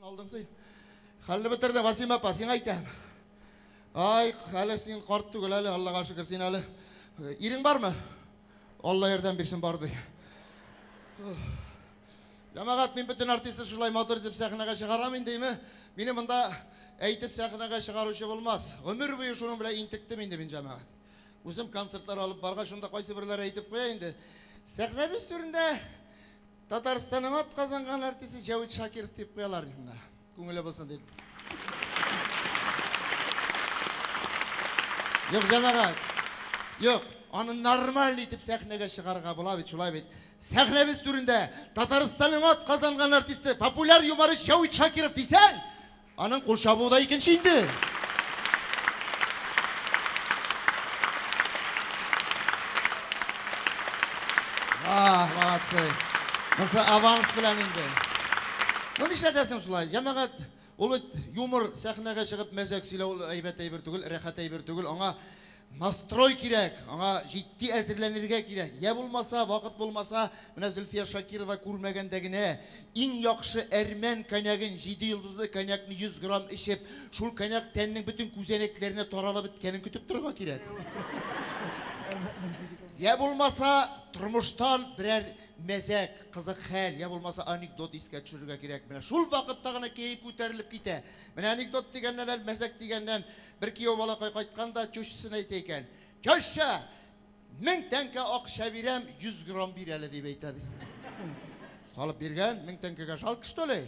Алдың син. Хәлне бетерде, Васим апа, сиңа әйтәм. Ай, әле син карт түгел әле, Аллага шөкер, син әле. Ирең бармы? Алла ярдәм бирсен бар ди. Җәмәгать, мин бөтен артистны шулай матур итеп сәхнәгә чыгарам индеме? Мине монда әйтеп сәхнәгә чыгаручы булмас. Гомер буе шуның белән интектем инде мин җәмәгать. Үзем концертлар алып барга шунда кайсы берләр әйтеп куя инде. Сәхнәбез түрендә Татарстанның ат казанган артисты Җәвит Шакиров дип куялар инде. Күңеле булсын дип. Юк, җәмәгать. Юк, аны нормаль итеп сәхнәгә чыгарга була бит, шулай бит. Сәхнәбез түрендә Татарстанның ат казанган артисты, популяр юморист Җәвит Шакиров дисәң, Аның кул чабуы да икенче инде. Ах, молодцы. Монсы аванс белән инде. Ну нишләтәсең шулай? Җәмәгать ул юмор сәхнәгә чыгып мәзәк сөйләү әйбәт әйбер түгел, рәхәт әйбер түгел. Аңа Настрой кирәк, аңа җитди әзерләнергә кирәк. Йә булмаса, вакыт булмаса, менә Зөлфия Шакирова күрмәгәндә генә иң яхшы әрмән коньягын, җиде йолдызлы коньякны 100 грамм эчеп, шул коньяк тәннең бөтен күзәнәкләренә таралып беткәнен көтеп торырга кирәк. Йә булмаса, тормыштан берәр мәзәк, кызык хәл, йә булмаса анекдот искә төшерергә кирәк. Менә шул вакытта гына кәеф күтәрелеп китә. Менә анекдот дигәннән, әле мәзәк дигәннән, Бер кияү балакай кайткан да тещасын әйтә икән. Теща, мең тәңкә акча бирәм, йөз грамм бир әле, дип әйтә, ди. Салып биргән, мең тәңкәгә жалко, что ли?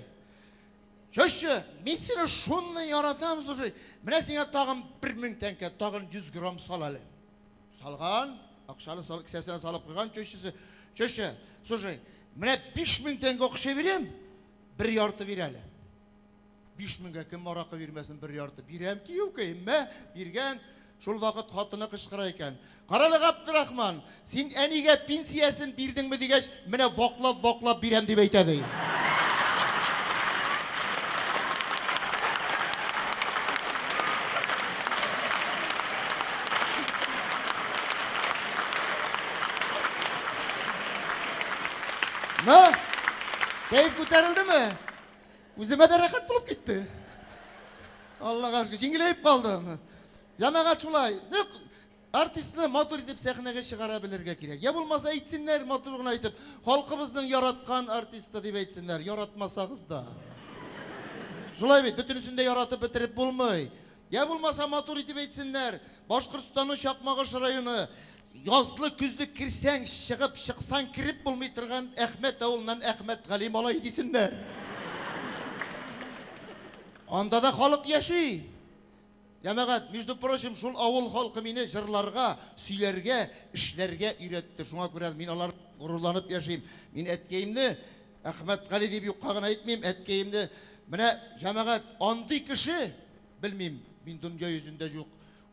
Теща, мин сине шунны яратам, слушай, менә сиңа тагын бер мең тәңкә, тагын йөз грамм сал әле. Салган, акчаны сал, кесәсенә салып куйган тещасы. Теща, слушай, менә биш мең тәңкә акча бирәм, бер ярты бир әле. Биш меңгә кем аракы бирмәсен бер ярты? Бирәм, киюкәем, мә, биргән. Шул вакыт хатыны кычкыра икән. Карале, Габдрахман, син әнигә пенсиясен бирдеңме дигәч, менә ваклап-ваклап бирәм дип әйтә ди. Кәеф күтәрелдеме? Үземә дә рәхәт булып китте. Аллага шөкер, җиңеләеп калдым. Җәмәгать шулай. Нәк артистны матур итеп сәхнәгә чыгара белергә кирәк. Я булмаса әйтсеннәр матур гына итеп, халкыбызның яраткан артисты дип әйтсеннәр, яратмасагыз да. Шулай бит, бөтенесен дә яратып бетереп булмый. Я булмаса матур итеп әйтсеннәр, Башкортстанның Чакмагыш районы Язлы көзле керсәң чыгып, чыксаң кереп булмый торган Әхмәт авылыннан Әхмәтгали малай дисеннәр. Анда да халык яши. Җәмәгать, между прочим, шул авыл халкы мине җырларга, сөйләргә, эшләргә өйрәтте. Шуңа күрә мин алар горурланып яшим. Мин әткәемне Әхмәтгали дип юкка гына әйтмим, әткәемне. Менә җәмәгать, андый кеше, белмим, мин дөнья йөзендә юк.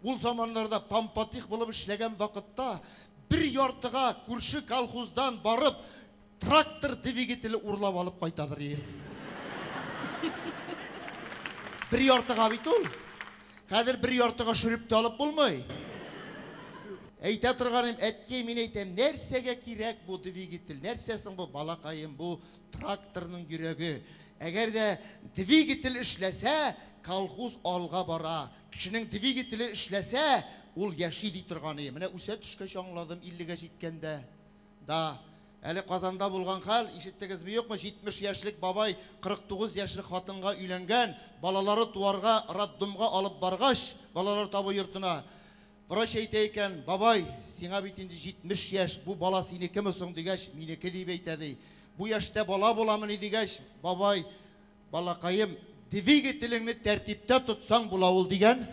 Ул заманнарда пампатих булып эшләгән вакытта бер яртыга күрше колхоздан барып трактор двигателе урлап алып кайтадыр ие. Бер яртыга бит ул. Хәзер бер яртыга шөреп тә алып булмый. Әйтә торганым, әткәй, мин әйтәм, нәрсәгә кирәк бу двигатель? Нәрсә соң бу балакаем, бу тракторның йөрәге? Әгәр дә двигатель эшләсә, колхоз алга бара. Кешенең двигателе эшләсә, ул яши ди торганы. Менә үсә төшкәч аңладым, 50 гә җиткәндә. Да. Әле Казанда булган хәл, ишеттегезме юкмы, 70 яшьлек бабай 49 яшьлек хатынга өйләнгән, балалары туарга роддомга алып баргач, балалар табу йортына, врач әйтә икән, Бабай, сиңа бит инде 70 яшь, бу бала синекеме соң, дигәч, минеке дип әйтә, ди. Бу яшьтә бала буламыни, дигәч, бабай, Балакаем, двигателеңне тәртиптә тотсаң була ул дигән.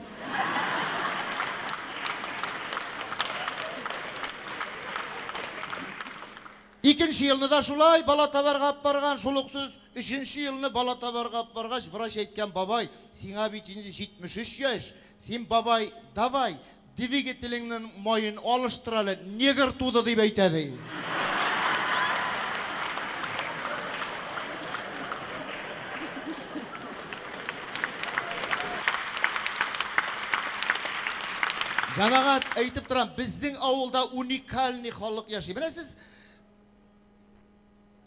Икенче елны да шулай бала табарга алып барган, шул ук сүз. Өченче елны бала табарга алып баргач, врач әйткән, бабай, сиңа бит инде 73 яшь, син, бабай, давай, Двигателеңнең маен алыштыр әле, негр туды дип әйтә, ди. Җәмәгать, әйтеп торам, безнең авылда уникальный халык яши. Менә сез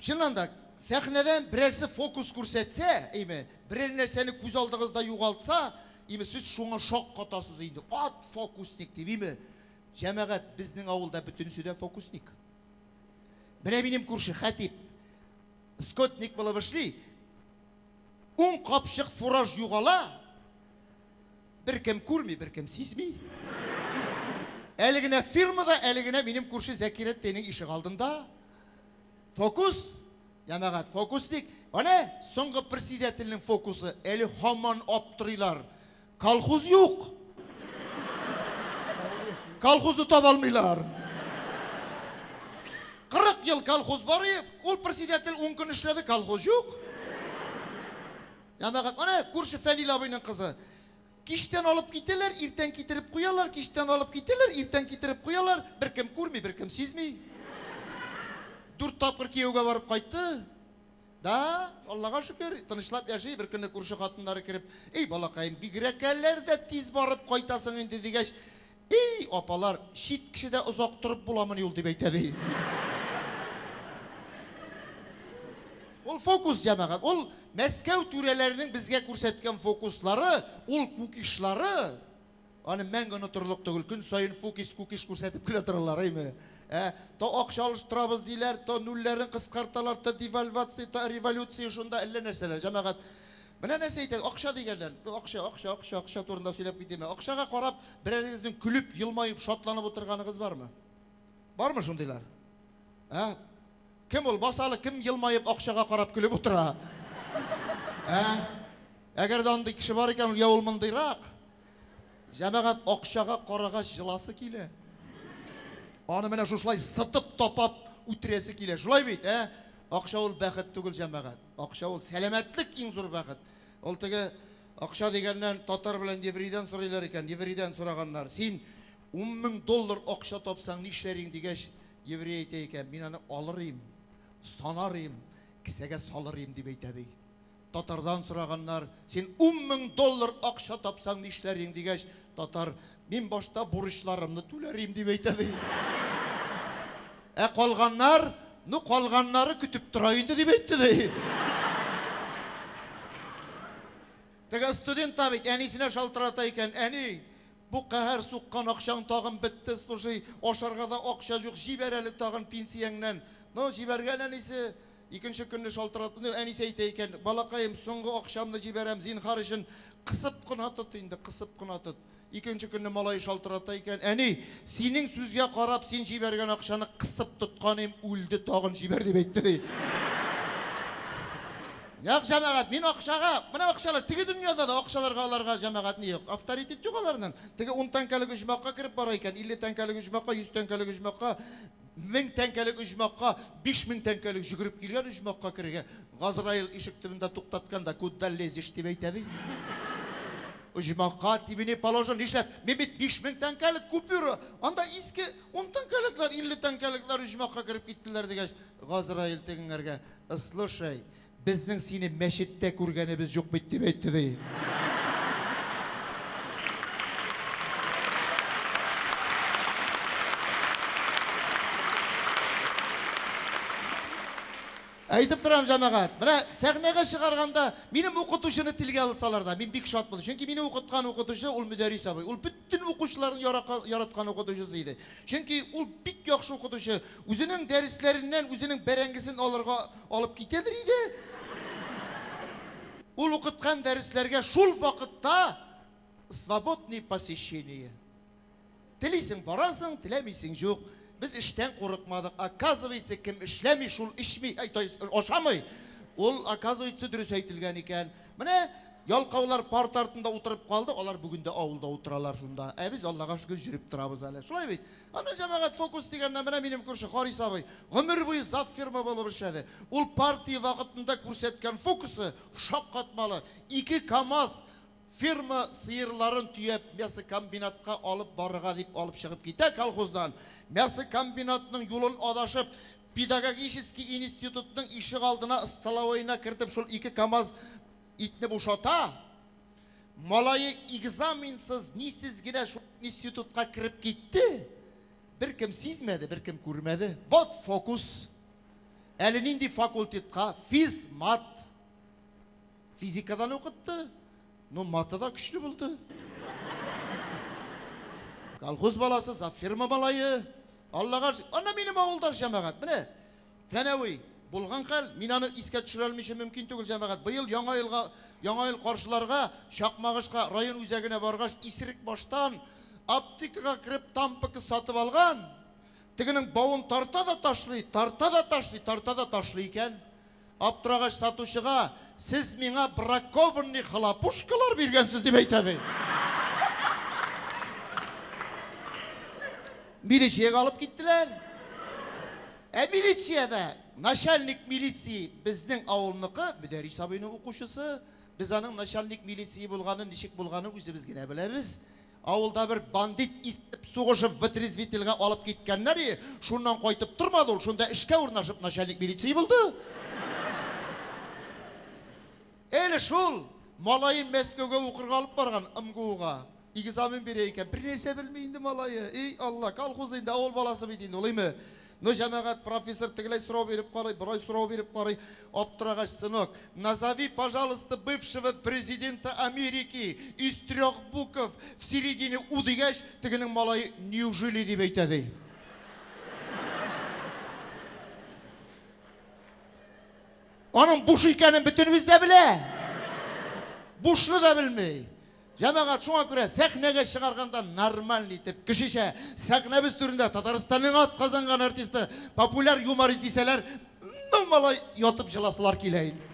Чыннан да, сәхнәдән берәрсе фокус күрсәтсә, име, берәр нәрсәне күз алдыгызда югалтса, име, сез шуңа шок катасыз инде. Ат фокусник дип, име. Җәмәгать, безнең авылда бөтенесе дә фокусник. Менә минем күрше Хәтип скотник булып эшли. Ун капчык фураж югала, Беркем күрми, беркем сизми. Әле генә фирмада, әле генә минем күрше Зәкирә тенең ишек алдында. Фокус, ямагат, фокус дик. Ана соңгы председательнең фокусы, әле хаман аптырыйлар. Колхоз юк. Колхозны таба алмыйлар. 40 ел колхоз бар, ул председатель 10 көн эшләде, колхоз юк. Җәмәгать, менә күрше Фәнил абыйның кызы. Кичтән алып китәләр, иртән китереп куялар, кичтән алып китәләр, иртән китереп куялар, беркем күрми, беркем сизми. Дүрт тапкыр кияүгә барып кайтты. Да, Аллага шөкер, тынычлап яши, беркөнне күрше хатыннары кереп, "Эй, балакаем, бигрәкәләр дә тиз барып кайтасың инде", дигәч, И-и, апалар, чит кешедә озак торып буламыни ул, дип әйтә, ди. Ул фокус, җәмәгать. Ул Мәскәү түрәләренең безгә күрсәткән фокуслары, ул кукишлары, аны мәңге онытырлык түгел. Көн саен фокис, кукиш күрсәтеп кенә торалар, әйме? Ә? То акча алыштырабыз диләр, то нульләрен кыскарталар, то девальвация, то революция, шунда әллә нәрсәләр, җәмәгать. Менә нәрсә әйтә, акча дигәндән, акча, акча, акча, акча турында сөйләп китимме? Акчага карап, Берәрегезнең көлеп, елмаеп, шатланып утырганыгыз бармы? Бармы шундыйлар? Ә? Кем ул? Басалы, кем елмаеп, акчага карап көлеп утыра? Ә? Әгәр дә андый кеше бар икән, я ул мондыйрак. Җәмәгать акчага карагач җыласы килә. Аны менә шушылай сытып тапап үтерәсе килә. Шулай бит, ә? Акча ул бәхет түгел, җәмәгать. Акча ул сәламәтлек иң зур бәхет. Ул теге Акча дигәннән, татар белән еврейдан сорыйлар икән, еврейдан сораганнар, Син ун мең доллар акча тапсаң, нишләр идең? дигәч, еврей әйтә икән, Мин аны алыр идем, санар идем, кесәгә салыр идем, дип әйтә, ди. Татардан сораганнар, Син ун мең доллар акча тапсаң, нишләр идең? дигәч, татар, Мин башта бурычларымны түләрим, дип әйтә, ди. Ә калганнар, ну, калганнары көтеп тора инде, дип әйтте, ди. Теге студент та бит әнисенә шалтырата икән, әни, бу каһәр суккан акчаң тагын бетте, слушай, ашарга да акча юк, җибәр әле тагын пенсияңнән. Ну, җибәргән әнисе, Икенче көнне шалтыратты. Ну, әнисе әйтә икән, балакаем, соңгы акчамны җибәрәм, зинһар өчен, кысып кына тот инде, кысып кына тот. Икенче көнне малае шалтырата икән, әни, синең сүзгә карап, син җибәргән акчаны кысып тотканым үлде, тагын җибәр, дип әйтте, ди. Як, җәмәгать, мин акчага, менә акчалар, теге дөньяда да акчаларга аларга җәмәгать ни юк. Авторитет юк аларның. Теге ун тәңкәлек оҗмахка кереп бара икән, илле тәңкәлек оҗмахка, йөз тәңкәлек оҗмахка. Мең тәңкәлек оҗмахка биш мең тәңкәлек җөгереп килгән оҗмахка керергә Газраил ишек төбендә туктаткан да, Куда лезешь, дип әйтә, ди. Оҗмахка тибени положено, нишләп? Мин бит биш мең тәңкәлек купюра, анда иске ун тәңкәлекләр, илле тәңкәлекләр оҗмахка кереп киттеләр, дигәч, Газраил тегеңәргә, Слушай, Безнең сине мәчеттә күргәнебез юк бит, дип әйтте, ди. Әйтеп торам, җәмәгать. Менә сәхнәгә чыгарганда минем укытучыны телгә алсалар да, мин бик шат булдым. Чөнки мине укыткан укытучы ул Мөдәрис абый. Ул Бөтен укучыларның яракан, яраткан укытучысы иде. Чөнки ул бик яхшы укытучы. Үзенең дәресләреннән үзенең бәрәңгесен алырга алып китәдер иде. Ул укыткан дәресләргә шул вакытта свободные посещения. Телисең барасың, теләмисең җук. Без эштән курыкмадык. Оказывается, кем эшләми, шул эчми, ай, то есть ашамый. Ул, оказывается, дөрес әйтелгән икән. Менә ялкаулар парта артында утырып калды, алар бүген дә авылда утыралар шунда. Ә без, Аллага шөкер, җөреп торабыз әле. Шулай бит? Аны җәмәгать фокус дигәннән, менә минем күрше Харис абый гомер буе зав фирма булып эшләде. Ул партия вакытында күрсәткән фокусы шаккатмалы. Ике КАМАЗ фирма сыерларын төяп мясокомбинатка алып барырга дип алып чыгып китә колхоздан. Мясокомбинатның юлын адашып, Педагогический институтның ишегалдына столовоена кертеп шул ике камаз итне бушата, малае экзаменсыз, нисез генә шул институтка кереп китте, беркем сизмәде, беркем күрмәде. Вот фокус! Әле нинди факультетка, физмат! Физикадан укытты. Ну, маты да көчле булды. Колхоз баласы, завфирма малае. Аллага шөкер. Анда минем авылдаш җәмәгать. Менә Тәнәви булган хәл, мин аны искә төшерә алмыйча мөмкин түгел җәмәгать. Быел яңа елга, яңа ел каршыларга Чакмагышка район үзәгенә баргач, исерек баштан аптекага кереп тампыка сатып алган. Тегенең бавын тарта да ташлый, тарта да ташлый, тарта да ташлый икән. Аптырагач сатучыга, Сез миңа бракованный хлопушкалар биргәнсез, дип әйтә бит. Милициягә алып киттеләр. Ә милициядә начальник милиции безнең авылныкы, Мөдәрис абыйның укучысы. Без аның начальник милиции булганын, ничек булганын үзебез генә беләбез. Авылда бер бандит истеп сугышып вытрезвительгә алып киткәннәр и, шуннан кайтып тормады ул, шунда эшкә урнашып начальник милиции булды. Эле шул малаен Мәскәүгә укырга алып барган, МГУга. Экзамен бирә икән, бернәрсә белми инде малае, и Алла, колхоз инде, авыл баласы бит инде ул, име. Ну, җәмәгать, профессор тегеләй сорау биреп карый, борай сорау биреп карый, аптырагач, сынок, назови, пожалуйста, бывшего президента Америки из трех букв в середине у дигәч, тегенең малае неужели дип әйтә, ди. Аның буш икәнен бөтенебез дә белә. Бушны да белми. Җәмәгать, шуңа күрә сәхнәгә чыгарганда нормаль итеп, кешечә, сәхнәбез түрендә Татарстанның ат казанган артисты, популяр юморист дисәләр, ну малай ятып җыласылар килә инде.